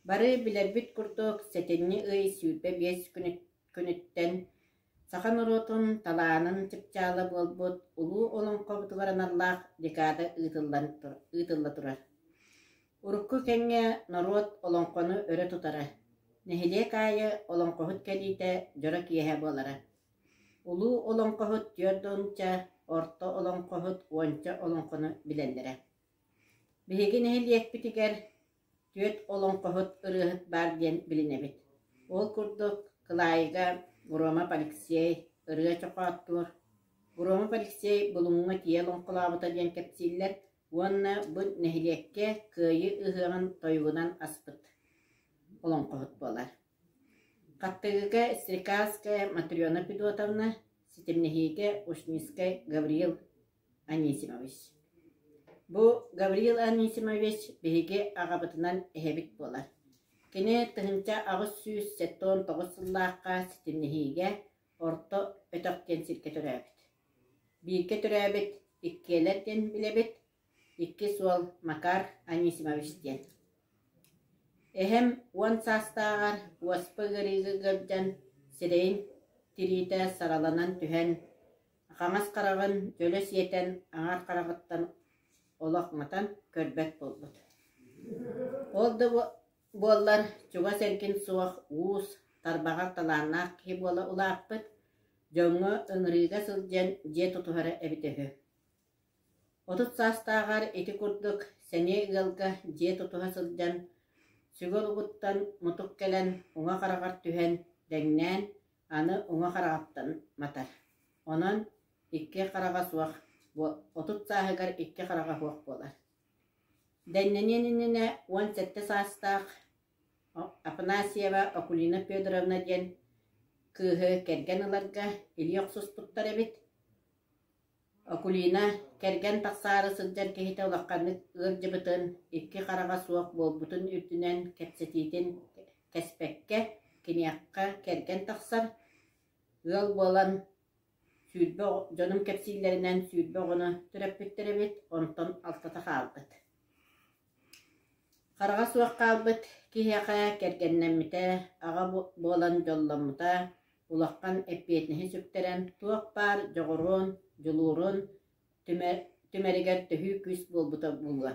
Бары билэрбит курдук, сэтинньи ый сүүрбэ биэс күнүттэн саха норуотун талаанын чыпчаала буолбут Улуу Олоҥхобутугар аналлаах декада ыытылла турар. Урукку кэмҥэ норуот олоҥхону өрө тутара, нэһилиэк аайы олоҥхоһут кэлиитэ дьоро киэһэ буолара. Улуу олоҥхоһут түөрт уонча, орто олоҥхоһут уонча олоҥхону билэллэрэ. Биһиги нэһилиэкпитигэр түөрт олоҥхоһут ырыаһыт баар диэн билинэбит. Ол курдук, кылаайыга Громов Алексей, ырыа чохооттуур. Громов Алексей Булуҥҥа тиийэ олоҥхолообута диэн кэпсииллэр уонна бу нэһилиэккэ Кыайыы ыһыаҕын тойугунан аспыт олоҥхоһут буолар. Хаттыгыга Стрекальская Матрена Федотовна, ситимнэһиигэ Ушницкай Гавриил Анисимович Бу Гавриил Анисимович биһиги аҕабытынан эһэбит буолар. Кини тыһыынча аҕыс сүүс сэттэ уон тоҕус сыллаахха ситимнэһиигэ орто өтөх диэн сиргэ төрөөбүт. Бииргэ төрөөбүт, иккиэлэр диэн билэбит, иккис уол Макар Анисимович диэн. Эһэм уон саастааҕар уоспа ыарыыга ыалдьан, сирэйин тириитэ сараланан түһэн, хаҥас хараҕын дьөлө сиэтэн, аҥар хараҕыттан олох матан көрбөт буолбут. Ол да буоллар чугас эргин суох уус, тарбаҕар талааннаах киһи буола улааппыт, дьоҥҥо ыҥырыыга сылдьан дьиэ тутуһара эбитэ үһү. Отут саастааҕар ити курдук сэниэ ыалга дьиэ тутуһа сылдьан, сүгэ улугуттан мутук кэлэн уҥа хараҕар түһэн дэҥнээн, аны уҥа хараҕыттан матар, онон икки хараҕа суох, отут сааһыгар икки хараҕа суох буолар. Дэҥнэниэн иннинэ уон сэттэ саастаах Афанасьева Акулина Федоровна диэн кыыһы кэргэн ыларга илии охсуспуттар эбит Окулина, кэргэн тахсаары сылдьар киһитэ улаханнык ыалдьыбытын, икки хараҕа суох буолбутун үрдүнэн кэпсэтиитин кэспэккэ, киниэхэ кэргэн тахсар, ыал буолан сүүрбэ дьонум кэпсииллэринэн сүүрбэ оҕону төрөппүттэр эбит, онтон алтата хаалбыт Хараҕа суох хаалбыт киһиэхэ кэргэннэммитэ, аҕа буолан дьолломмута улахан эппиэтинэһи сүктэрэн, туох баар дьоҕуруун, дьулуурун түмэригэр төһүү күүс буолбута буолуо.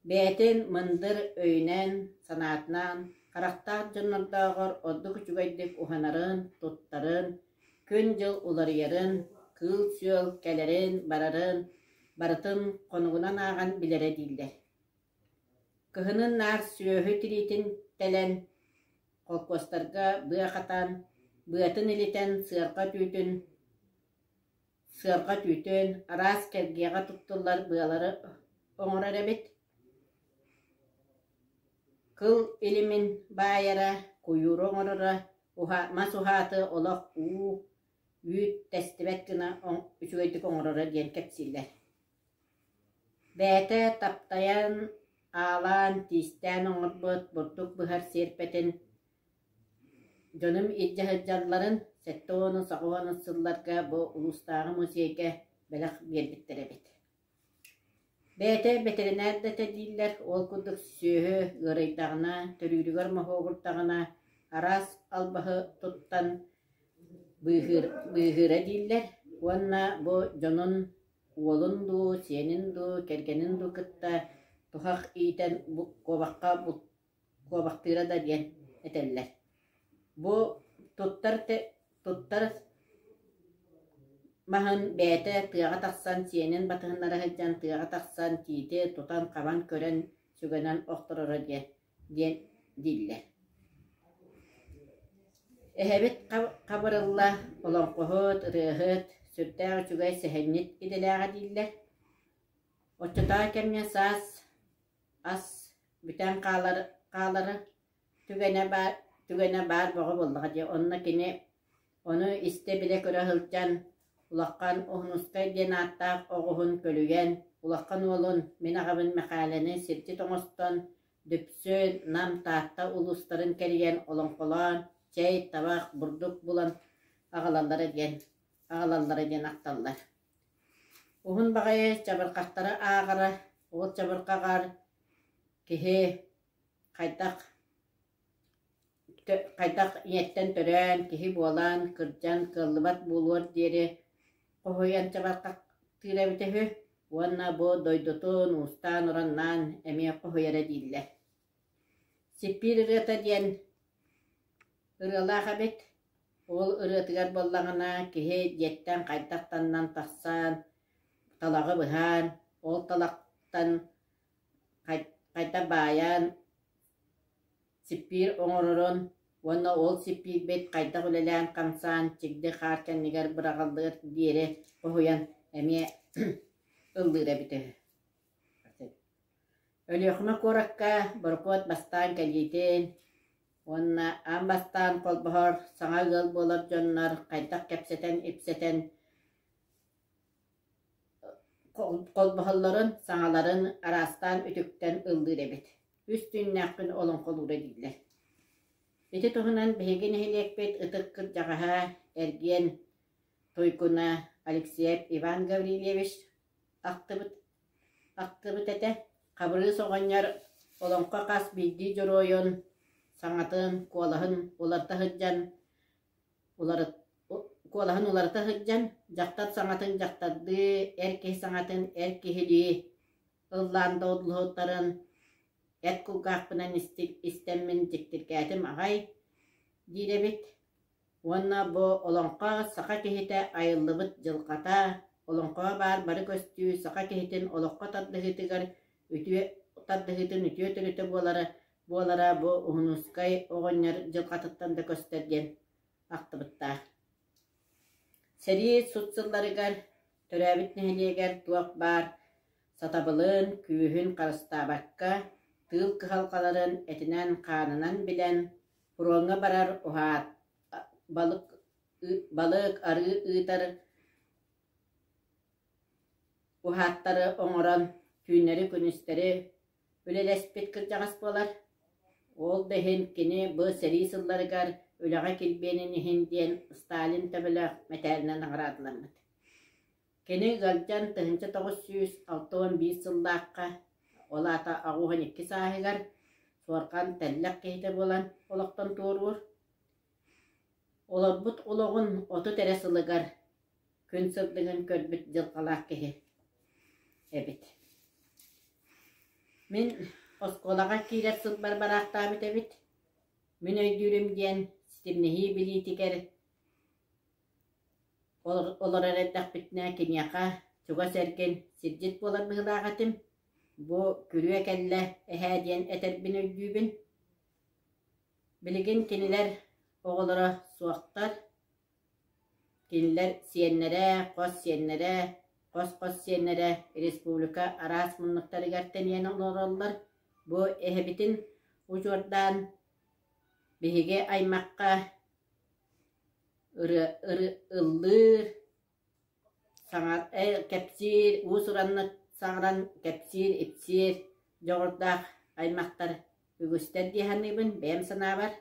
Бэйэтин мындыр өйүнэн, санаатынан, харахтаах дьоннордооҕор ордук үчүгэйдик уһанарын, туттарын, күн-дьыл уларыйарын, кыыл-сүөл кэлэрин-барарын Барытын хонугунан ааҕан билэрэ дииллэр Кыһынын наар сүөһү тириитин тэлэн, холкуостарга быа хатаан, быатын илитэн сыарҕа түүтүн, сыарҕа түүтүн, араас кэргиэҕэ туттуллар быалары оҥорор эбит. Кыл илимин баайара, куйууру оҥороро, уһа, мас уһааты олох уу, Үүт-тэстибэт гына үчүгэйдик оҥороро диэн кэпсииллэр Бэйэтэ таптайан, аалаан, тиистээн оҥорбут бурдук быһар сиэрпэтин дьонум илдьэ сылдьалларын сэттэ уон саҕа уон сылларга бу улуустааҕы музейга бэлэх биэрбиттэр эбит Бэйэтэ бэтэринээр да этэ дииллэр, ол курдук сүөһү ыарыйдаҕына, төрүүрүгэр моһуогурдаҕына араас албаһы туттан быыһыыр быыһыыра дииллэр уонна бу дьонун уолун дуу, сиэнин дуу, кэргэнин дуу кытта туһах иитэн куобахха куобахтыыра да диэн этэллэр. Бу туттар туттар маһын бэйэтэ тыаҕа тахсан сиэнин батыһыннара сылдьан тыаҕа тахсан тиити тутан хабан көрөн сүгэнэн охтороро диэн диэн дииллэр. Эһэбит хабырылла олоҥхоһут, ырыаһыт, сүрдээх үчүгэй сэһэнньит идэлээҕэ дииллэр. Оччотооҕу кэмҥэ саас Ас бүтэн хаалар хаалара түгэнэ баар түгэнэ баар бөҕө буоллаҕа дии онно кини ону истэ-билэ көрө сылдьан улахан Уһунускай диэн ааттаах оҕуһун көлүйэн улахан уолун мин аҕабын Мэхээлэни сирдьит оҥостон Дүпсүн, Нам, Таатта улуустарын кэрийэн олоҥхолоон чэй, табах, бурдук булан аҕалаллара диэн аҕалаллара диэн ахталлар. Уһун баҕайы чабырҕахтары ааҕара, уот чабырҕаҕар киһи хайдах хайдах ийэттэн төрөөн, киһи буолан, кырдьан, кыаллыбат буолуор диэри хоһуйан чабырҕахтыыра эбитэ үһү уонна бу дойдутун уустаан-ураннаан эмиэ хоһуйара дииллэр Сиппиир ырыата диэн ырыалаах эбит, ол ырыатыгар буоллаҕына киһи дьиэттэн хайдахтанан тахсан талаҕы быһаан, ол талахтан хайдах баайан сиппиир оҥорорун уонна ол сиппиирбит хайдах үлэлээн-хамсаан чигди хаар кэннигэр быраҕыллыар диэри хоһуйан эмиэ ыллыыр эбитэ Өлүөхүмэ куоракка борокуот бастаан кэлиитин уонна аан бастаан холбоһор саҥа ыал буолар дьоннор хайдах кэпсэтэн-ипсэтэн холбоһоллорун, саҥаларын араастаан үтүктэн ыллыыр эбит. Үс түүннээхпин олоҥхолуура дииллэр. Ити туһунан биһиги нэһилиэкпит ытык кырдьаҕаһа эргиэн Туйгуна Алексеев Иван Гаврильевич ахтыбыт ахтыбыт этэ Хабырыыс оҕонньор олоҥхо хас биирдии дьоруойун саҥатын куолаһын уларыта сылдьан уларыт куолаһын уларыта сылдьан дьахтар саҥатын дьахтардыы эр киһи саҥатын эр киһилии ыллаан да одулуһуттарын эт кулгаахпынан истиммин дьиктиргээтим аҕай диир эбит Уонна бу олоҥхо саха киһитэ айыллыбыт дьылҕата, олоҥхоҕо баар бары көстүү саха киһитин олоххо тардыһыытыгар үтүө тардыһыытын үтүө төрүтэ буолара буолара бу Уһунускай оҕонньор дьылҕатыттан да көстөр диэн ахтыбыттаах. Сэрии сут сылларыгар төрөөбүт нэһилиэгэр туох баар сатабылын, күүһүн харыстаабакка, тыыл кыһалҕаларын этинэн-хаанынан билэн, Фроҥҥа барар уһаат балык балык арыы ыытар уһааттары оҥорон түүннэри-күнүстэри үлэлэспит кырдьаҕас буолар. Ол да иһин кини бу сэрии сылларыгар үлэҕэ килбиэнин иһин диэн Сталин төбөлөөх мэтээлинэн наҕараадаламмыт Кини ыалдьан тыһыынча тоҕус сүүс алта уон биир сыллаахха, ол аата оҕуһун икки сааһыгар, суорҕан тэллэх киһитэ буолан олохтон туоруур. Олорбут олоҕун отут эрэ сылыгар, күн-сылдыгын көрбүт дьылҕалаах киһи эбит. Мин оскуолаҕа киирэр сылбар бараахтаабыт эбит. Мин өйдүүрүм диэн ситимнэһии билиитигэр Олорор эрдэхпитинэ киниэхэ чугас эргин сирдьит буолар быһыылаах этим, бу күрүө кэллэ эһээ диэн этэрбин өйдүүбүн. Билигин кинилэр оҕолоро суохтар, кинилэр сиэннэрэ, хос сиэннэрэ, хос-хос сиэннэрэ республика араас муннуктарыгар тэнийэн олороллор, бу эһэбитин удьуордаан биһиги аймахха ыллыыр, кэпсиир, уус-ураннык саҥаран кэпсиир-ипсиир дьоҕурдаах аймахтар үгүстэр дии саныыбын бэйэм санаабар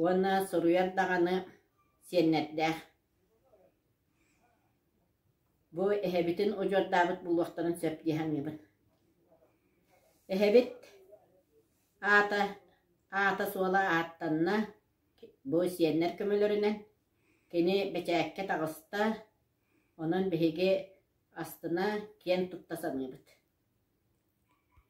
уонна суруйар даҕаны сиэннэрдээх. Бу эһэбитин удьуордаабыт буолуохтарын сөп дии саныыбын. Эһэбит аата аата-суола ааттанна Бу сиэннэр көмөлөрүнэн кини бэчээккэ таҕыста, онон биһиги астына киэн тутта саныыбыт